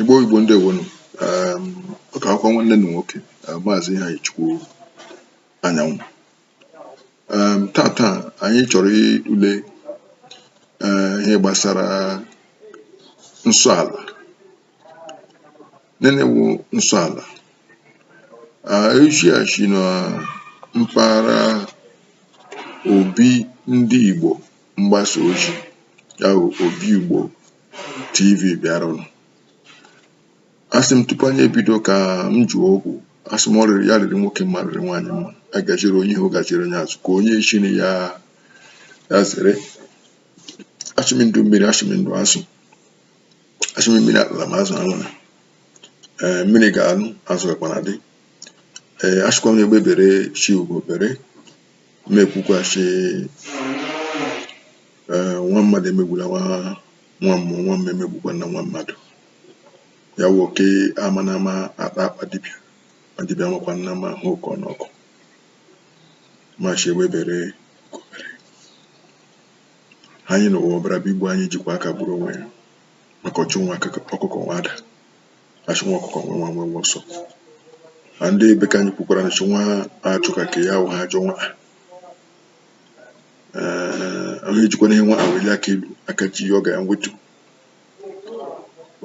Igbo Igbo ndewonu um, ọ ka wụkwa nwanne unu nwoke uh, maazị Iheanyịchukwu Anyanwụ um, tata anyị chọrọ ịtụle uh, ihe gbasara nsọ ala nịnị wụ nsọ ala uh, eji asị na mpaghara obi ndị Igbo mgbasa ozi a bụ Obiugbo TV bịaranụ asị m tupu anyị ebido ka m jụọ ogu asị m ọ rịrị ya rịrị nwoke mma rịrị nwaanyị mma a gajere onye ihu gajere onye azụ ka onye si na ya zere asị m ndụ mmiri asị m ndụ azụ asị m mmiri atala ma azụ anwụna ee mmiri ga-anọ azụ gakwa na-adị ee asịkwa m egbe bere sị ugo bere m ekwukwa sị eh, nwa mmadụ emegbula nwa nwa mmụọ nwa mmụọ emegbukwana nwa mmadụ ya wụ oke amana ama akpa akpa dibịa ma dibịa amakwana ama ahụ oke ọnụ ọkụ ma sị ewebere kobere anyị na ụwa ọbịara igbu anyị jikwa aka gburu onwe ya maka ọchụ nwa akụkọ- ọkụkọ nwe ada asị nwa ọkụkọ nwe nwe nwe nwe ọsọ na ndị ebe ka anyị kwukwara na nwa achụ ka ka ya ahụ ha ajọ nwa ahụ o jikwanụ ihe nwa welie aka elu aka jie ya ọ ga ewetu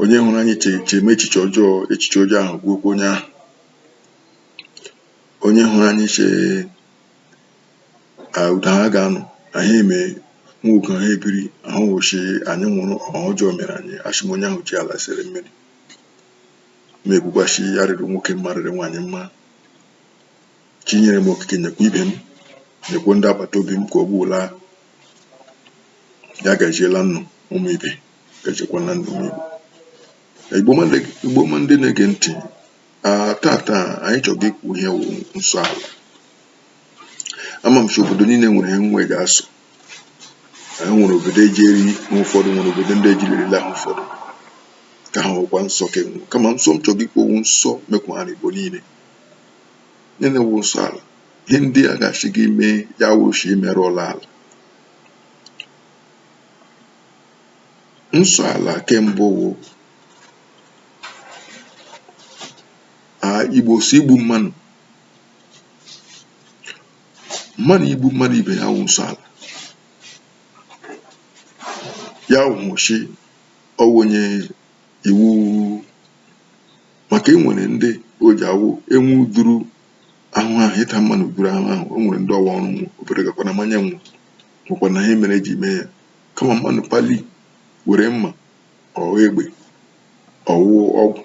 onye hụrụ anyị chewe echiche ọjọọ echiche ọjọọ ahụ gbukwaa onye ahụ onye hụrụ anyị che otu ha ga-anọ na ha eme nwa oke ha ebiri ahụ wụchi anyị nwụrụ ọha ọjọọ mere anyị asị m onye ahụ ji ala sere mmiri ma ekwukwa sị ya rịrị nwoke mma rịrị nwaanyị mma chi nyere m okike nyekwa ibe m nyekwa ndị agbata obi m ka ọ bụla ya gajiela unu ụmụ ibe gajekwa na ndụ m igbo igbo ọma ndị na-ege ntị Ah, tata anyị chọga ikwu ihe wụ nsọ ala ama m sị obodo niile nwere ihe nwe ga-asọ anyị nwere obodo eji eri ihe ụfọdụ nwere obodo ndị ejirila ha ụfọdụ ke ahụ wụkwa nsọ ke nwe kama nsọ m chọga ikwu wụ nsọ mekwara igbo niile niile wụ nsọ ala ihe ndị a ga-asị gị i mee ya wụrụ sị i merụọla ala nsọ ala ke mbụ wụ Igbo sị igbu mmadụ mmadụ igbu mmadụ ibe ya wụ nsọ ala ya wụchi ọ wụ nye iwu maka e nwere ndị o ji awụ enwu duru ahụ ahụ ịta mmanụ duru ahụ ahụ o nwere ndị ọwa ọrụ nwụ obere gakwa na mmanya nwụ nwụkwa na ha mere eji mee ya kama mmanụ pali were mma ọ wụ egbe ọ wụ ọgwụ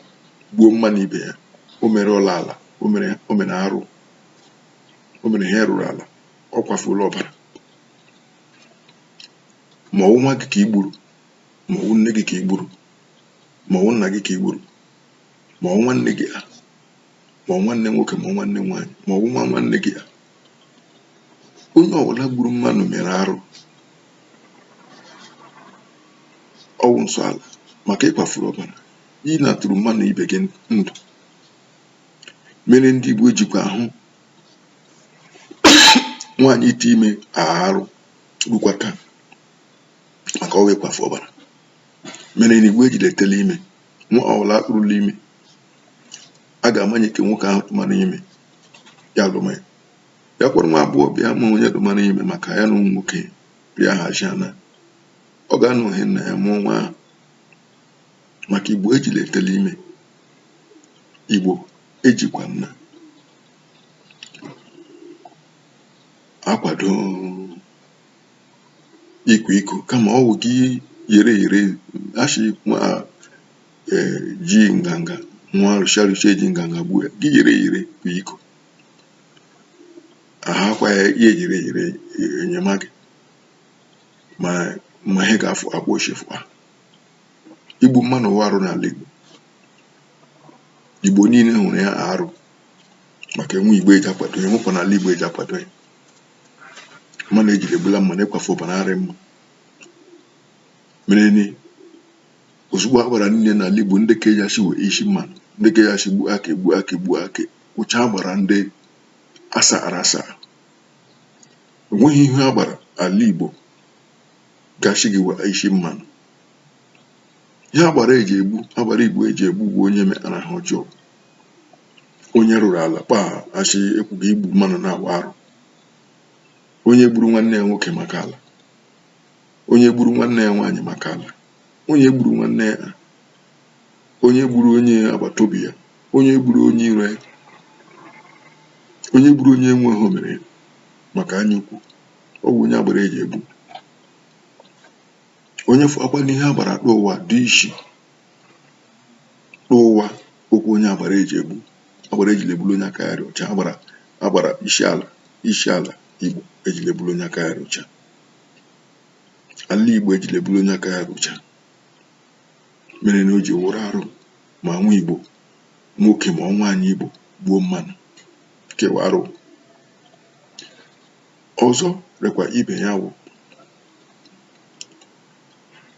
gbuo mmanụ ibe ya o merụọla ala o mere o mere arụ o mere ihe rụrụ ala ọ kwafuola ọbara ma ọ wụ nwa gị ka i gburu ma ọ wụ nne gị ka i gburu ma ọ wụ nna gị ka i gburu ma ọ wụ nwanne gị a ma ọ wụ nwanne nwoke ma ọ wụ nwanne nwaanyị ma ọ wụ nwa nwanne gị a onye ọbụla gburu mmadụ mere arụ ọ wụ nsọ ala maka ị kwafuru ọbara ị napụrụ mmadụ ibe gị ndụ mere ndị Igbo jikwa ahụ nwaanyị ite ime arụ rukwa taa maka ọ wụ ịkwafu ọbara mere na Igbo ejile etele ime nwa ọbụla a kpụrụla ime a ga-amanye ka nwoke ahụ tụmara ime ya lụma ya ya kwere nwa agbọ bịa ma onye tụmara ime maka ya na ụmụ nwoke bịa hazi ana ọ ga-anọ ohe nna ya mụọ nwa ahụ maka Igbo ejile etele ime Igbo ejikwana akwado ịkwa iko kama ọ wụ gị yere yere ashị nwa ji nganga nwa arụsị arụsị eji nganga gbuo ya gị yere yere kwa iko ahakwa ya ya ejiri ejiri enyemaka ma ma ihe ga-afụ akwa ochefu ha igbu mmadụ wụ arụ n'ala Igbo Igbo niile hụrụ ya arụ maka enwe Igbo eji akwado ya enwekwa n'ala Igbo eji akwado ya mmanụ ejiri egbula mmanụ ịkwafu ọbara arị mma mere na ozugbo agbara niile n'ala Igbo ndị ka eji asị wee isi mmanụ ndị ka eji asị gbuo aka egbu aka egbu aka ụcha agbara ndị asara asa o nweghị ihe agbara ala Igbo ga-ashị gị wee isi mmanụ ihe agbara eji egbu agbara Igbo eji egbu wụ onye mekpara ihe ọjọọ onye rụrụ ala kpaa asị ekwughị igbu mmanụ na-awụ arụ onye gburu nwanne ya nwoke maka ala onye gburu nwanne ya nwaanyị maka ala onye gburu nwanne ya onye gburu onye agbata obi ya onye gburu onye iro ya onye gburu onye enwe ihe o mere maka anya ukwu ọ bụ onye agbara eji egbu onye fụakwa n'ihu agbara n'ụwa du isi n'ụwa ọ wụ onye agbara eji egbu agbara ejile gburu onye aka ya dị ọcha agbara agbara isi ala isi ala igbo ejile gburu onye aka ya dị ọcha ala igbo ejile gburu onye aka ya dị ọcha mere na o ji wụrụ arụ ma nwa Igbo nwoke ma ọ nwaanyị Igbo gbuo mmanụ ke wụ arụ ọzọ rekwa ibe ya wụ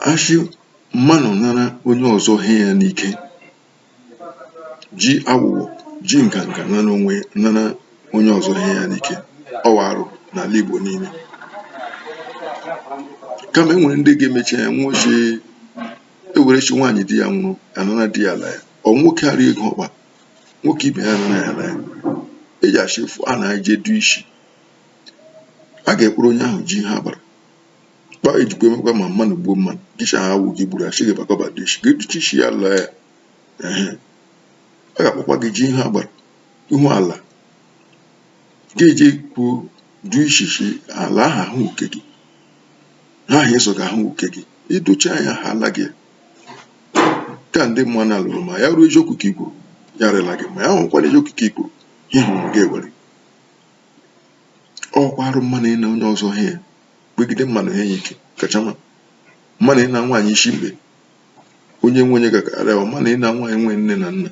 a sị mmanụ nara onye ọzọ he ya n'ike ji awụwọ ji nganga nana onye nana onye ọzọ ihe ya n'ike ọ wụ arụ n'ala Igbo niile kama e nwere ndị ga-emechi ya nwụchi ewerechi nwaanyị di ya nwụrụ anana di ya ala ya ọ nwoke ara ego ọkpa nwoke ibe ya anana ya ala ya eji achị efu a na-eje du isi a ga-ekpụrụ onye ahụ jee ihu agbara kpa ejikwa emekwa ma mmadụ gbuo mmadụ dishi ahụ awụ gị gburu a sị gị bịakwa du ishi gị duchi isi ya laa ya ehe a ga-akpọkwa gị jee ihu agbara ihu ala gị eje kwuo du ishishi ala ahụ ahụ uke gị ha ahụ ịsọ ga ahụ uke gị idochi anya ha ala gị ka ndị mma na alụrụ ma ya wụrụ eziokwu ka i kwuru ya rịla gị ma ya hụkwara eziokwu ka i kwuru ihe hụrụ gị ewere ọ kwa arụ mmadụ ịna onye ọzọ ihe kpegide mmadụ ihe ya ike kachama mmadụ ịna nwaanyị isi mkpe onye enwe onye ga-akara ya mmadụ ịna nwaanyị enwe nne na nna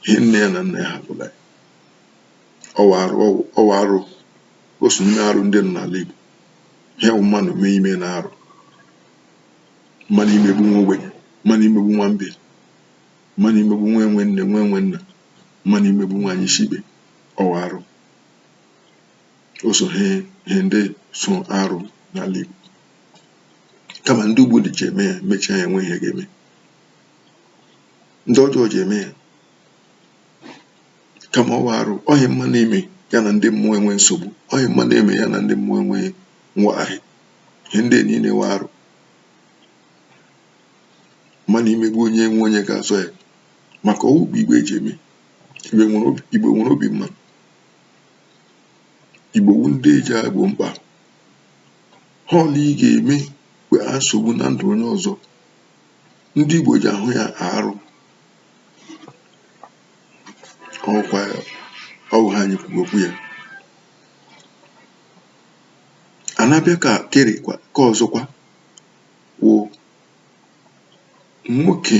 ihe nne ya na nna ya hapụla ya ọ wụ arụ ọ wụ arụ o so n'ime arụ ndị nọ n'ala Igbo ihe bụ mmadụ mee i mena arụ mmadụ imegbu nwa ogbenye mmadụ imegbu nwa mbe mmadụ imegbu nwa enwe nne nwa enwe nna mmadụ imegbu nwaanyị isi ekpe ọ wụ arụ o so ihe ndị so arụ n'ala Igbo kama ndị ugbu a ji eme ya mechaa ya enwe ihe ga-eme ndị ọjọọ ji eme ya kama ọ wụ arụ ọ ihe mmanụ eme ya na ndị mmụọ enwe nsogbu ọ ihe mmanụ eme ya na ndị mmụọ enwe nwagharị ihe ndị niile wụ arụ mmanụ imegbu onye enwe onye ga-azọ ya maka ọ wụ kpa Igbo ji eme Igbo nwere obi Igbo nwere obi mma Igbo wu ndị eji egbo mkpa ihe ọla ị ga-eme mgbe a nsogbu na ndụ onye ọzọ ndị Igbo ji ahụ ya arụ ọkwa ọwụ ihe anyị kwuru okwu ya a na-abịa ka kere kwa ke ọzọkwa wụ nwoke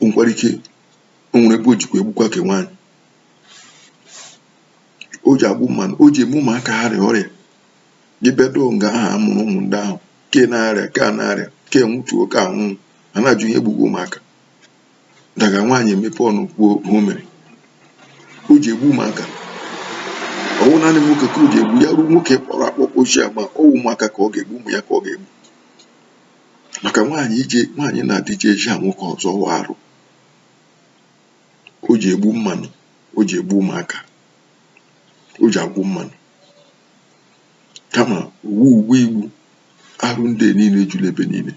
o nwekwara ike o nwere ebe o jikwa egbukwa ke nwaanyị o ji egbu mmanụ o ji eme ụmụaka ha rịa ọrịa gị bịaduo nga ahụ a mụrụ ụmụ ndị ahụ ke na-arịa ke a na-arịa ke nwụtuo ke anwụ a na-ajụ ihe gbuga ụmụaka daga nwaanyị emepe ọnụ kwuo ihe o mere o ji egbu ụmụaka ọwụ naanị nwoke ka o ji egbu ya ruo nwoke kpọrọ akpọ kpọchie ama ọwụ ụmụaka ka ọ ga-egbu ụmụ ya ka ọ ga-egbu maka nwaanyị ije nwaanyị na di ije eji a nwoke ọzọ wụ arụ o ji egbu mmanụ o ji egbu ụmụaka o ji agwụ mmanụ kama ụwa ugbu a Igbo arụ ndị niile ejula ebe niile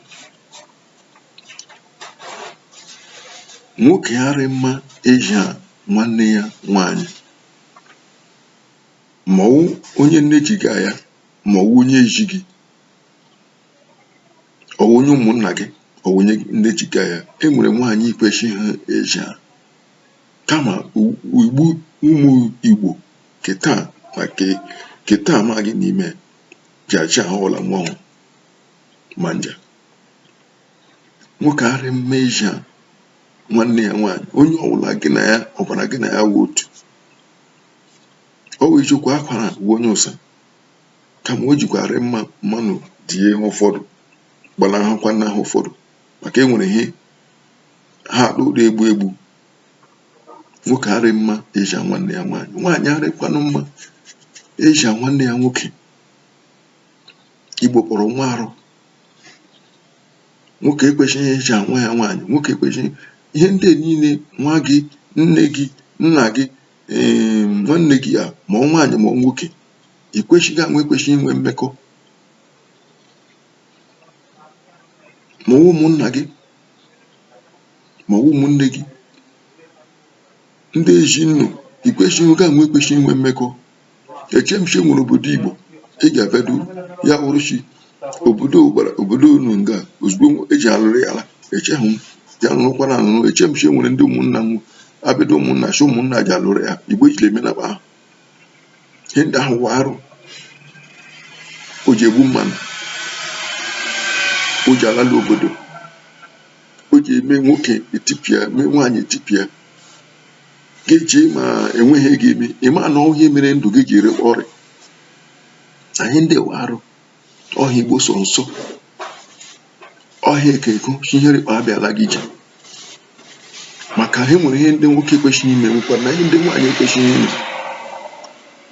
nwoke arị mma eji a nwanne ya nwaanyị mọwụ onye nne ji gị na ya mọwụ onye ezi gị ọwụ onye ụmụnna gị ọwụ onye nne ji gị na ya e nwere nwaanyị ikwesịghị eji a kama igbo ụmụ igbo ke taa na ke taa ama gị n'ime ji aja ihe ọla nwa hụrụ ma nja nwoke arị mma eji a nwanne ya nwaanyị onye ọbụla gị na ya ọbara gị na ya wụ otu ọ wụ eziokwu akwara uwe onye ụsa Kama o jikwarị mma mmanụ tie ha ụfọdụ, gbanahụkwa na ha ụfọdụ maka e nwere ihe ha akpụ na-egbu egbu. Nwoke arị mma eji a nwanne ya nwaanyị, nwaanyị arịkwanụ mma eji a nwanne ya nwoke. Igbo kpọrọ nwa arụ nwoke ekwesịghị eji a nwa ya nwaanyị, nwoke ekwesịghị ihe ndị a niile nwa gị, nne gị, nna gị, ee nwanne gị a ma ọ nwaanyị ma ọ nwoke ikwesịghị gị na nwa ekwesị inwe mmekọ ma ụmụnna gị ma ụmụnne gị ndị ezi unu ikwesị gị na nwa ekwesị inwe mmekọ eche m sị e nwere obodo igbo ị ga-abịado ya wụrụ sị obodo gbara obodo unu nga ozugbo eji alụrụ ya ala echehụ m ya nụrụkwana anụrụ eche m sị e nwere ndị ụmụnna m abịado ụmụnna si ụmụnna ji alụrụ ya igbo ejiri eme na ahụ ihe ndị ahụ wụ arụ o ji egbu mmanụ o ji alalu obodo o ji eme nwoke etipịa mee nwaanyị etipịa ga-eji ma enweghị ego eme ịma na ọ wụ ihe mere ndụ gị ji rịkwa ọrịa ihe ndị wụ arụ ọha igbo sọ nsọ ọhịa ekeko chinyere ikpe abịala gị ije maka ha nwere ihe ndị nwoke ekwesịghị ime nwekwa na ihe ndị nwaanyị ekwesịghị ime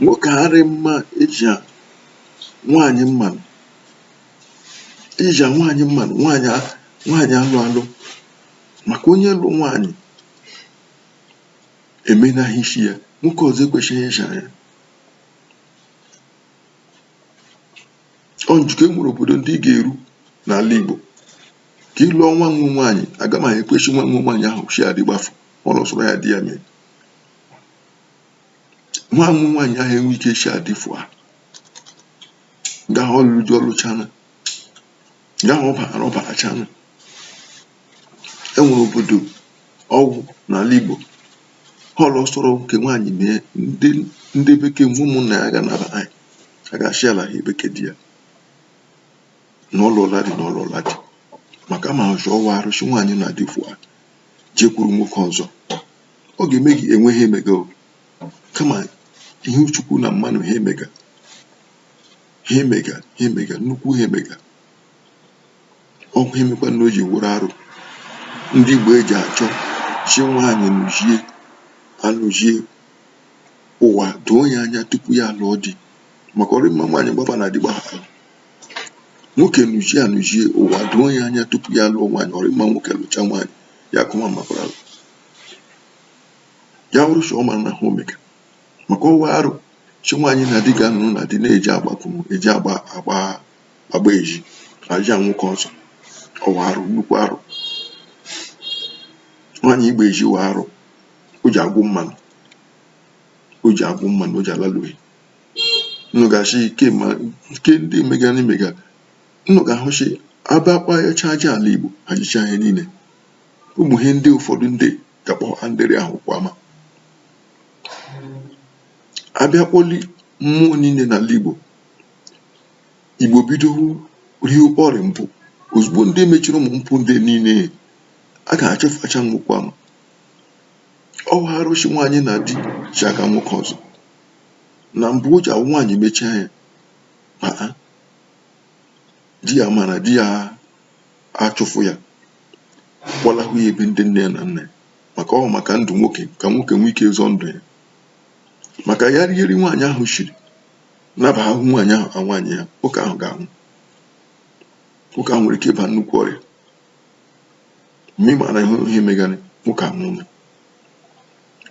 nwoke arị mma eji nwaanyị mmanụ ija nwaanyị mmanụ nwaanyị nwaanyị alụ alụ maka onye lụ nwaanyị emena ihe isi ya nwoke ọzọ ekwesịghị ịja ya ọ njikọ enwere obodo ndị ị ga-eru n'ala Igbo ka ị lụọ nwa wụ nwaanyị agama ekwechi nwa wụ nwaanyị ahụ si adị gbafụ ọ lụsoro ya di ya mee nwa wụ nwaanyị ahụ enwe ike si adịfụ a gaa ọlụlụ di ọlụchana ya ọ bara ọ baracha na enwere obodo ọ wụ n'ala Igbo họlụ sọrọ nke nwaanyị mee ndị ndị be ke wụ ụmụnna ya ga naba anyị a ga-achị ala ha ebe ke di ya na ọ lụọla di na ọ lụọla di maka ma ọzọ ọ wụ arụ sị nwaanyị na di fụ a jekwuru nwoke ọzọ ọ ga-eme gị enwe ihe i mega o. kama ihu chukwu na mmanụ ihe i mega ihe i mega ihe i mega nnukwu ihe i mega ọ ihe mekwa na o ji wụrụ arụ ndị Igbo eji achọ sị nwaanyị nụzie anụzie ụwa doo ya anya tupu ya alụọ di maka ọ rị mma nwaanyị gbaba na di gbaha nwoke nụzie anụzie ụwa doo ya anya tupu ya alụọ nwaanyị ọ rị mma nwoke lụcha nwaanyị ya kụma makwara ya wụrụ sọ ọ mara na ha omega maka ọ wụ arụ sị nwaanyị na di ga-anọ na di na-eji agbapụ eji agba agba agba eji aja nwoke ọzọ ọ wụ arụ nnukwu arụ nwaanyị ịgba ezi wụ arụ o ji agwụ mmanụ o ji agwụ mmanụ o ji alaluhi nnụ ga-achị ike ma nke ndị mega na imega nnụ ga-ahụchi abakpa ya chaja ala igbo ajicha ihe niile ụmụ ihe ndị ụfọdụ ndị ya kpọọ andịrị ahụ kwa ama abịa kpọli mmụọ niile n'ala Igbo Igbo bido rie ọrịa mpụ ozugbo ndị mechiri ụmụ mpụ ndị niile a ga-achụfụcha nnukwu ama ọ bụ arụ sị nwaanyị na di ji aka nwoke ọzọ na mbụ o ji awụ nwaanyị mechie anya ma di ya mara di ya achụfụ ya kpọlahụ ya ebe ndị nne ya na nna ya maka ọ maka ndụ nwoke ka nwoke nwee ike zọọ ndụ ya maka ya rie nri nwaanyị ahụ shiri naba ahụ nwaanyị ahụ ka nwaanyị ya nwoke ahụ ga-anwụ nwoke ahụ nwere ike ịba nnukwu ọrịa mgbe ị maara ihe ihe megara nwoke ahụ nwụrụ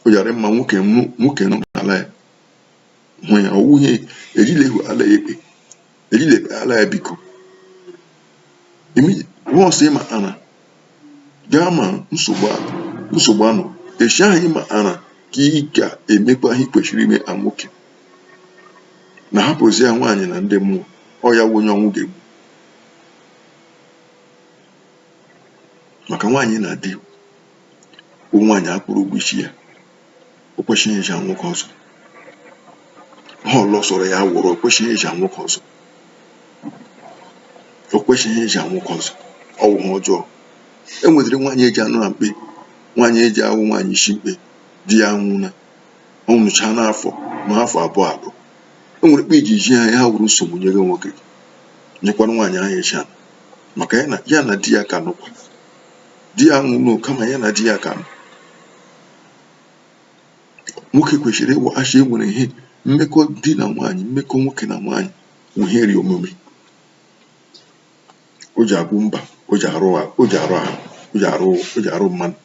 ọ ya-arị mma nwoke nwoke nọ n'ala ya hụ ya ọ wụ ihe ejila ehu ala ya ekpe ejila ekpe ala ya biko ọsọ ịma ana gaa ma nsogbu nsogbu anọ echi ahụ ịma ana ka ị ga-emekwa ihe i kwesịrị ime nwoke na hapụzi ya nwaanyị na ndị mmụọ ọ ya wụ onye ọnwụ ga-egbu maka nwaanyị na di ọ nwaanyị a kwụrụ ụgwọ isi ya o kwesịghị ịja nwoke ọzọ ha ọlọsọrọ ya wụrụ o kwesịghị ịja nwoke ọzọ o kwesịghị ịja nwoke ọzọ ọ wụ ihe ọjọọ e nwedịrị nwaanyị eji anọ na mkpe nwaanyị eji awụ nwaanyị isi mkpe di ya anwụna ọ nwụcha n'afọ ma afọ abụọ abụọ e nwere mkpe iji ji ha ya wụrụ nsogbu nye gị nwoke gị nyekwara nwaanyị ahụ eji anụ maka ya na ya na di ya ka nọkwa di ya nwụrụ kama ya na di ya ka nọ nwoke kwesịrị ịma sị e nwere ihe mmekọ di na nwaanyị mmekọ nwoke na nwaanyị wụ ihe rị omimi o ji abụ mba o ji arụ a- o ji arụ ahụ o ji arụ o ji arụ mmadụ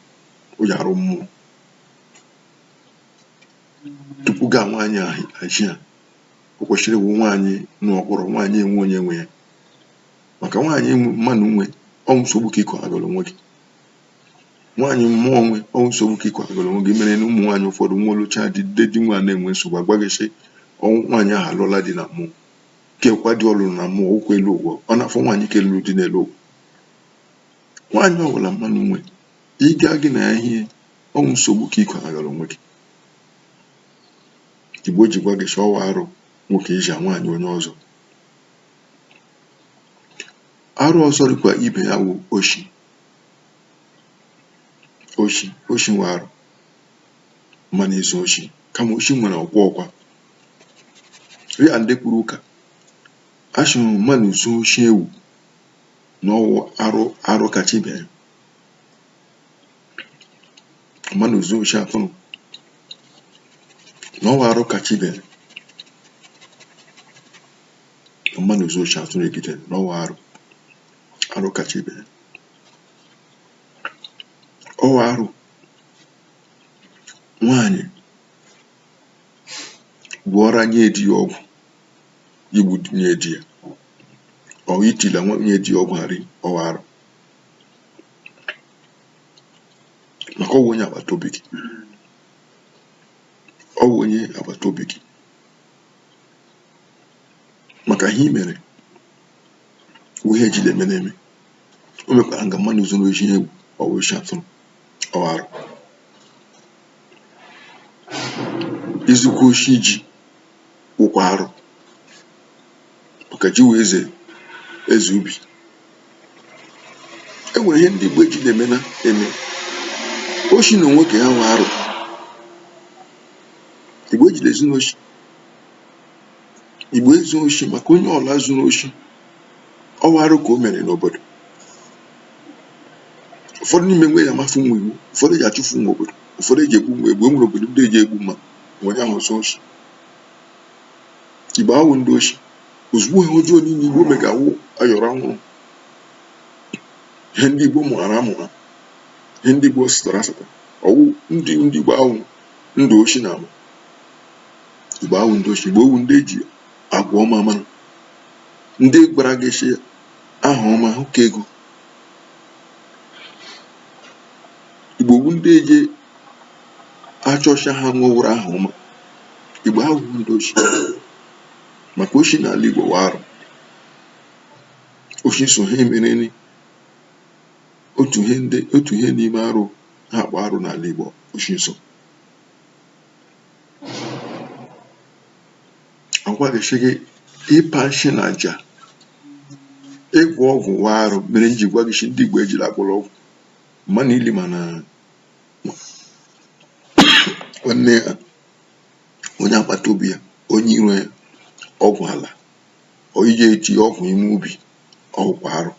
o ji arụ mmụọ tupu gaa nwaanyị ahụ achị ya o kwesịrị ịwụ nwaanyị nọ ọkpọrọ nwaanyị enwe onye nwe ya maka nwaanyị mmadụ nwe ọ wụ nsogbu ka ịkọ agụrụ nwoke nwaanyị mmụọ nwe ọ wụ nsogbu ka ịkwadoro onwe gị mere na ụmụ nwaanyị ụfọdụ nwa alụcha di nde di nwa na-enwe nsogbu agwa gị sị ọ wụ nwaanyị ahụ alụọla di na mmụọ kekwa di ọ lụrụ na mmụọ ụkwụ elu ụgwọ ọ na-afọ nwaanyị nke lụrụ di n'elu ụwa nwaanyị ọbụla mmadụ nwe ịga gị na ya ihe ọ wụ nsogbu ka ịkwadoro onwe gị igbo ji gwa gị sị ọ wụ arụ nwoke iji nwaanyị onye ọzọ arụ ọzọ dịkwa ibe ya wụ oshi oshi oshi wụ arụ mmadụ izu oshi kama oshi nwere ọkwa ọkwa rị ya ndị kwuru ụka a shịrị mmadụ zu oshi ewu na ọ wụ arụ arụ kacha ibe ya mmadụ zu oshi atụrụ na ọ wụ arụ kacha ibe ya mmadụ zu oshi atụrụ egide na ọ wụ arụ arụ kacha ibe ya ọ wụ arụ nwaanyị gwọọra nye di ya ọgwụ igbu nye di ya ọ wụ itila nwunye di ya ọgwụ na nri ọ wụ arụ maka ọ wụ onye agbata obi gị ọ wụ onye agbata obi gị maka ihe i mere ihe ejile eme n'eme o meka nga mmadụ izu n'oshi ewu ọwụ oshi atụrụ ọwụ arụ izukwa oshi ji wụkwa arụ maka ji wụ eze eze ubi e nwere ihe ndị igbo ejile eme na eme oshi na onwe ke ya wụ arụ igbo ejile ezu n'oshi igbo ezu oshi maka onye ọla zuru oshi ọwụ arụ ka o mere n'obodo ụfọdụ n'ime nwe eji amafu nwe iwu ụfọdụ eji achụfu nwe obodo ụfọdụ eji egbu na egbu enwere obodo ndị eji egbu ma onye ahụ zuo oshi igbo awụ ndị oshi ozugbo ihe ọjọọ niile igbo mega awụ ayọrọ ọwụrụ ihe ndị igbo mụghara amụgha ihe ndị igbo sịtara asata ọwụ ndị ndị igbo awụ ndị oshi na ama Igbo awụ ndị oshi, Igbo wụ ndị eji agwa ọma mara. Ndị gwara gị shị aha ọma hụ ka ego. Igbo wụ ndị ji achọ shị ha nwewụrụ aha ọma. Igbo awụ ndị oshi. Maka oshi n'ala Igbo wụ arụ. Oshi so ha mereni. Otu ihe ndị otu ihe n'ime arụ ha akpọ arụ n'ala Igbo oshi so. agwa gị sị gị ịpa nshị na aja ịgwọ ọgwụ wụ arụ mere nji gwa gị sị ndị Igbo ejila agwọla ọgwụ manụ ili mana nwanne ya onye agbata obi ya onye iro ya ọgwụ ala iji eti ọgwụ ime ubi ọ wụkwa arụ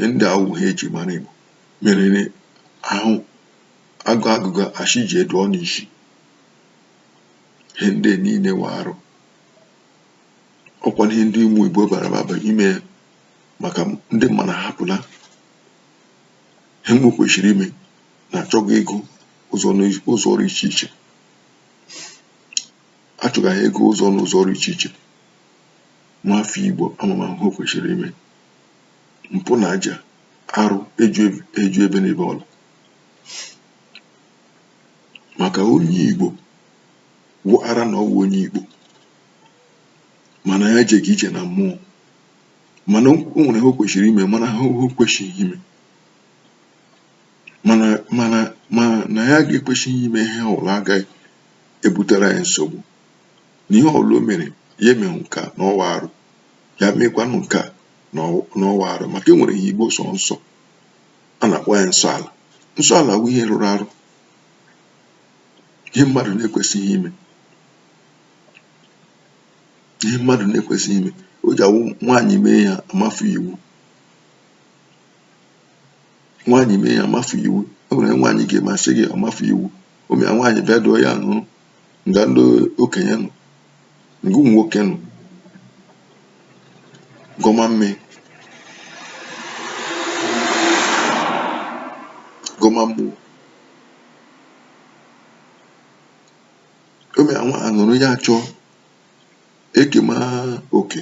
ndị awụ ihe eji mara Igbo mereni ahụ agụ agụga ashị ji edu ọnụ isi ihe ndị niile wụ arụ ọkwa ihe ndị ụmụ igbo bara baba ime maka ndị manụ ahapụla ihe we kwesịrị ime na achọga ego ụzọ ọrụ iche iche achọga ego ụzọ n'ụzọ ọrụ iche iche nwa afọ igbo ama ama hụ kwesịrị ime mpụ na aja arụ eju ebe na ebe ọla maka onye Igbo maara na ọ wụ onye Igbo mana ya ejeghị ije na mmụọ mana o nwere ihe o kwesịrị ime ma na ihe o kwesịghị ime mana mana ma na ya ga-ekwesịghị ime ihe ọbụla agaghị ebutere anyị nsogbu na ihe ọbụla o mere ya emeghị nka na ọ wụ arụ ya mekwanụ nka na ọ wụ arụ maka e nwere ihe Igbo sọ nsọ a na-akpọ ya nsọ ala nsọ ala wụ ihe rụrụ arụ ihe mmadụ na-ekwesịghị ime ihe mmadụ na-ekwesịghị ime o ji awụ nwaanyị mee ya amafu iwu nwaanyị mee ya amafu iwu e nwere nwaanyị ga-emasị gị amafu iwu ụmụ ya nwaanyị bịa dụọ ya nụrụ nga ndị okenye nọ nga ụmụ nwoke nọ gọma mme gọma mmụọ ome anwa anụrụ ya achọ ekema oke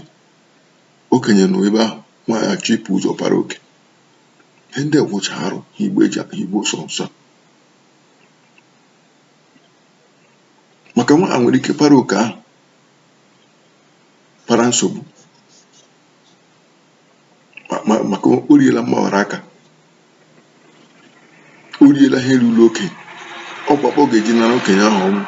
okenye nọ ebe ahụ nwa achọ ibu ụzọ para oke ihe ndị wụcha arụ ihe eji igbo sọ nsọ maka nwa a nwere ike para oke ahụ para nsogbu ma- ma- maka o riela mgbawara aka o riela ihe ruru okenye ọkpakpọ ga-eji nara okenye ahụ ọnwụ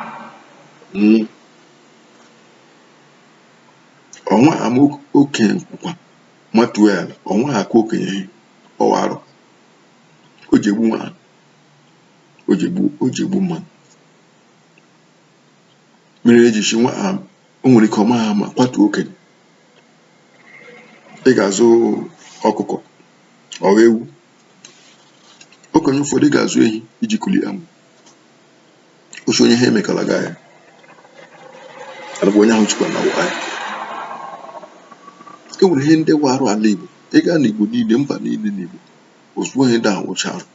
nwụọ nwa ama okenye nkwụkwa matuo ya ala nwa akụọ okenye ihe ọ wụ arụ o ji egbu nwa ahụ o ji egbu o ji egbu mmadụ mere eji si nwa a o nwere ike ọma ha ma kwatuo okenye ị ga-azụ ọkụkọ ọghọ ewu okenye ụfọdụ ị ga-azụ ehi iji kulie amụ osi onye ha emekala gị ahịa alabụ onye ahụ chịkwa na wa ahịa e nwere ihe ndị wụ arụ ala igbo ị gaa n'igbo niile mba niile n'igbo ozugbo ihe ndị ahụ wụcha arụ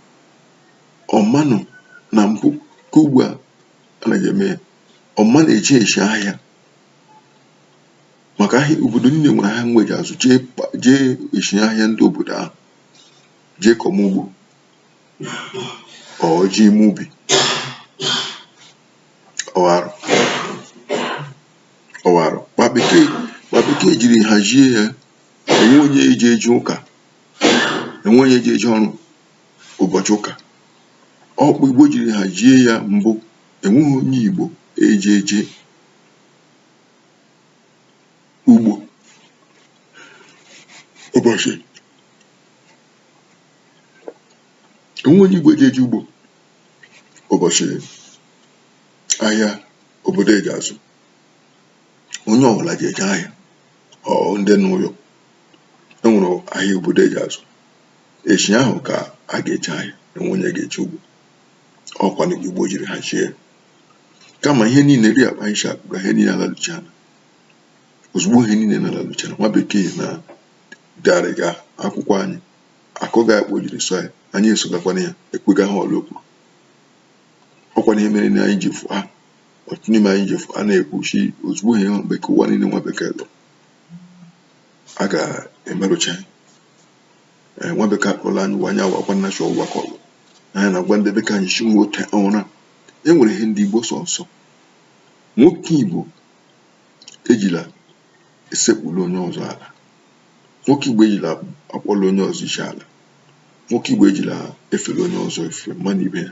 ọ manụ na mbụ ka ugbu a anaghị eme ya ọ ma na-eji eji ahịa maka ahịa obodo niile nwere ahịa mgbe e ji azụ jee kpa- jee eji ahịa ndị obodo ahụ jee kọma ugbo ọ ji ime ubi ọgharụ ọgharụ kpa bekee kpa bekee jiri hazie ya enwe onye eji eje ụka enwe onye eji eje ọrụ ụbọchị ụka ọkpụ igbo jiri hazie ya mbụ enweghị onye igbo eji eje ugbo ụbọchị enweghị onye igbo eji eje ugbo ụbọchị ahịa obodo eji azụ onye ọbụla ji eje ahịa ọ ndị n'ụlọ enwere ahịa obodo eji azụ echi ahụ ka a ga-eje ahịa enweghị onye ga-eje ugbo ọkwa na igbo jiri hazie kama ihe niile ri akpa anyị hapụga ihe niile alaluchana ozugbo ihe niile na-alaluchana nwa bekee na garịga akwụkwọ anyị akụga akpọ jiri sọ ya anyị esogakwana ya ekwega ha ọla okwu ọkwa na ihe mere na anyị ji fụ ha ọtụtụ n'ime anyị ji fụ a na-ekwuchi ozugbo ihe bekee ụwa niile nwa bekee lụrụ a ga-emerụcha anyị ee nwa bekee akpọrọ anyị wanye awa gwa nna chọọ gwakọ ọlụ anyị na-agwa ndị be ka anyị si nwete ụra e nwere ihe ndị igbo sọ nsọ nwoke igbo ejila esekpuru onye ọzọ ala nwoke igbo ejila akpọrọ onye ọzọ isi ala nwoke igbo ejila efere onye ọzọ ife mmadụ ibe ya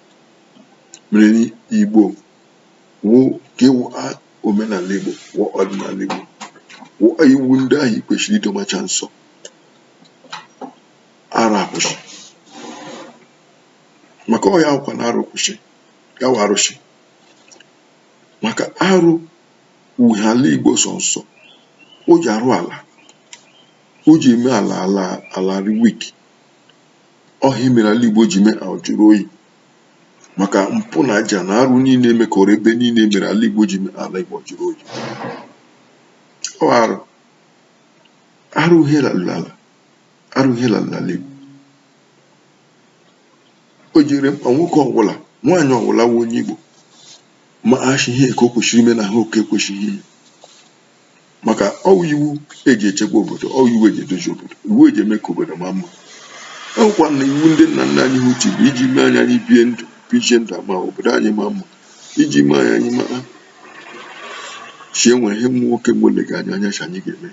mere n'Igbo wụ ka ịwụ omenala Igbo wụ ọdịnala Igbo wụ iwu ndị ahụ i kwesịrị idomacha nsọ arụ akwụsị maka ọ ya wụkwa na arụ kwụsị ya wụ arụsị maka arụ wụ ihe ala Igbo sọ nsọ o ji arụ ala o ji eme ala ala arị weak ọ ha mere ala Igbo ji mee ajụrụ oyi maka mpụ na aja na arụ niile emekọrọ ebe niile mere ala Igbo ji mee ala Igbo jụrụ oyi ọ arụ arụ ihe lalala arụ ihe lalala Igbo o jiri mkpa nwoke ọbụla nwaanyị ọbụla wụ onye Igbo ma achị ihe nke o kwesịrị ime na ihe nke ekwesịghị ime maka ọwụ iwu eji echekwa obodo ọwụ iwu eji edozi obodo iwu eji eme ka obodo ma mma enwekwa na iwu ndị nna nna anyị ha uche bụ iji mee anyị anyị bie ndụ bichie ndụ ọma obodo anyị ma mma iji mee anyị anyị mara sị enwe ihe nwa nwoke mgbe olega anyị anya sị anyị ga-eme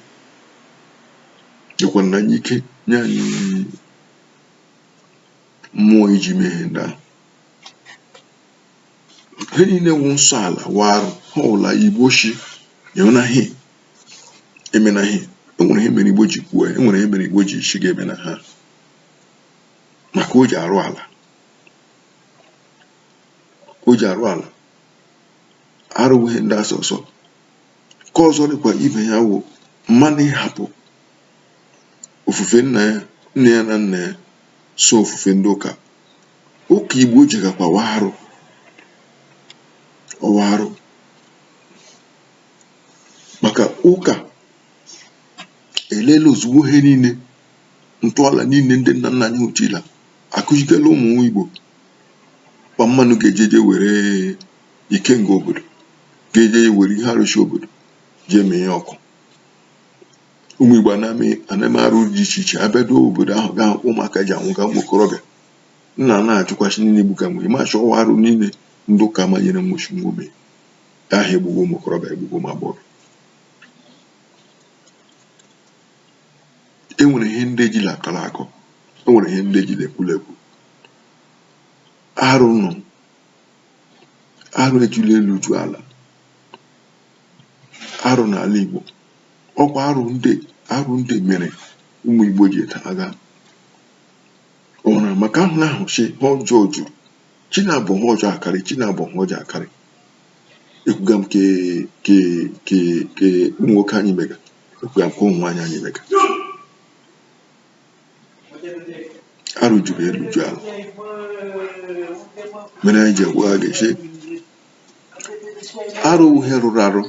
nyekwa na anyị ike nye anyị mmụọ iji mee ihe ndị ahụ ihe niile wụ nsọ ala wụ arụ ihe ọwụla igbo shi emena ihe emena ihe enwere ihe mere igbo ji kwuo ya enwere ihe mere igbo ji shi gị emena ha maka o ji arụ ala o ji arụ ala arụ wụ ihe ndị asọ ọsọ ka ọzọ dịkwa ibe ya wụ mmanụ ịhapụ ofufe nna ya nne ya na nna ya so ofufe ndị ụka ụka igbo jegakwa wụ arụ ọ wụ arụ maka ụka elela ozugbo ihe niile ntọala niile ndị nna nna anyị ha tiila akụzitela ụmụ igbo kpa mmanụ ga-ejeje were ikenga obodo ga-eje were ihe arụsị obodo jee mee ọkụ ụmụ Igbo a na-eme a na-eme arụ dị iche iche abịado obodo ahụ ga-ahụ ka ụmụaka ji anwụga ụmụ okorobịa nna na-ajụkwa sị gịnị gbuka nwere ma shị ọ wụ arụ niile ndị ụka manyere nwụchi nwa ome ahụ egbuga ụmụ okorobịa egbuga ụmụ agbọghọ e nwere ihe ndị ejila akọlị akọ e nwere ihe ndị ejila ekwuli ekwu arụ nọ arụ ejula elu ju ala arụ n'ala Igbo ọkwa arụ ndị arụ ndị mere ụmụ Igbo ji taa agha ọ na maka ahụ na ahụ shị ihe ọjọọ juru chi na-abọ ihe ọjọọ akarị chi na-abọ ihe ọjọọ akarị ekwuga m ke ke ke ke ụmụ nwoke anyị mega ekwuga m ke ụmụ nwaanyị anyị mega arụ juru elu ju ala mere anyị ji agwa ha ga-eche arụ wụ ihe rụrụ arụ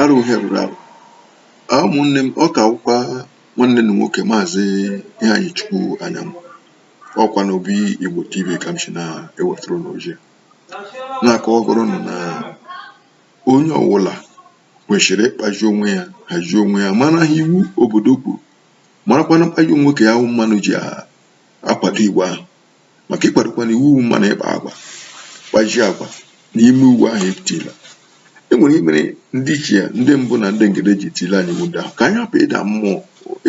arụ wụ ihe rụrụ arụ a ụmụnne m ọ ka wụkwa nwanne unu nwoke maazị Iheanyịchukwu Anyam ọkwa na obi igbo tv ka m si na-ewetara unu ozi na-akọwagara unu na onye ọwụla kwesịrị ịkpazi onwe ya hazie onwe ya mara ihe iwu obodo kwuru marakwanụ mkpaji nwoke ya ahụ mmanụ ji akwado iwu ahụ maka ịkwadokwanụ iwu mma na ịkpa agwa kpazie agwa na ime iwu ahụ etila e nwere ihe mere ndị ichie ya ndị mbụ na ndị egede ji tile anyị iwu ndị ahụ ka anyị hapụ ịda mmụọ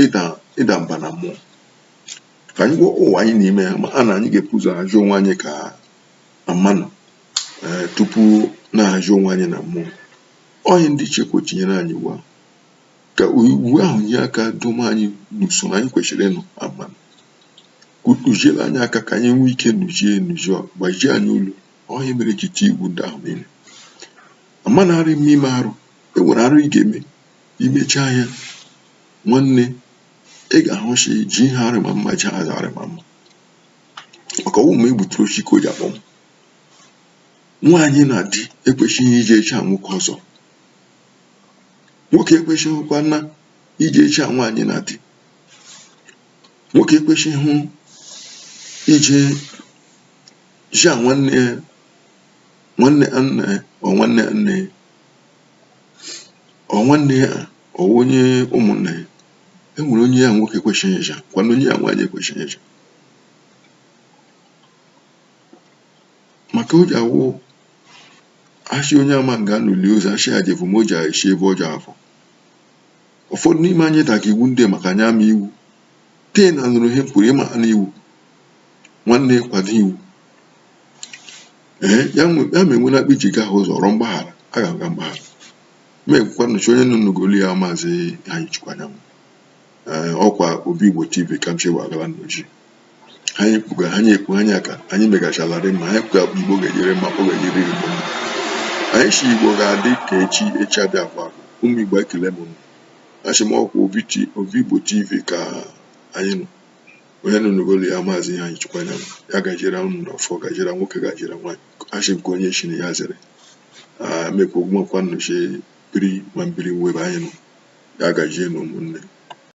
ịda ịda mba na mmụọ ka anyị gwọ ụwa anyị n'ime ya ma a na anyị ga-ebu ụzọ ahazi onwe anyị ka na mmanụ ee eh, tupu na-ahazi onwe anyị na mmụọ ọ ya ndị ichie ji tinyere anyị iwu ahụ ka iwu ahụ nye aka duo anyị n'usoro anyị kwesịrị ịnọ na mmanụ kụziere anyị aka ka anyị nwee ike nụzie enụzie gbazie anyị olu ihe e mere ji tie iwu ndị ahụ niile amanarị m ime arụ e nwere arụ ị ga-eme i mechaa ya nwanne ị ga-ahụsi ji ihe arị ma mma ji aza arị ma mma maka ọ wụ ma e gbuturu oshi ka o ji akpọnwụ nwaanyị na di ekwesịghị ije echi a nwoke ọzọ nwoke ekwesịghịkwa na ije echi a nwaanyị na di nwoke ekwesịghị ije jia nwanne nwanne nne ọ nwanne nne ọ nwanne ya ọ onye ụmụnne ya e nwere onye ya nwoke ekwesịghị ịja kwana onye ya nwaanyị ekwesịghị ịja maka o ji awụ a sị onye ama nga e li ozu a sị ya je vọ ma o ji esi ebe ọdụ avọ Ụfọdụ n'ime anyị daga iwu ndị maka anyị ama iwu tee na nụrụ ihe e kwuru ị mana iwu nwanne kwado iwu ee ya ma enwela akpa iji ga-ahụ ụzọ rịọ mgbaghara a ga-aga mgbaghara ma ekwukwa nnọchi onye nọ n'ogolo ya maazị iheanyịchukwu anyanwụ ọkwa obi igbo tv ka m chewa agala n'oji anyị kwuga anyị ekwu anyị aka anyị megachararị ma anyị kwuga igbo ga-enyere ma ọ ga-enyere igbo mma anyị si igbo ga-adị ka echi echi abịa kwa ụmụ igbo ekele m asị m ọkwa obi igbo tv ka anyị nọ onye nọ n'ogolo ya maazị iheanyịchukwu anyanwụ ya gajira ụnụ na ọfọ gajira nwoke gajira nwaanyị a sị nke onye chiri ya zere mekwa ogwumakwa nnọchi biri ma m biri nwe ebe anyị nọ ya gajie na ụmụnne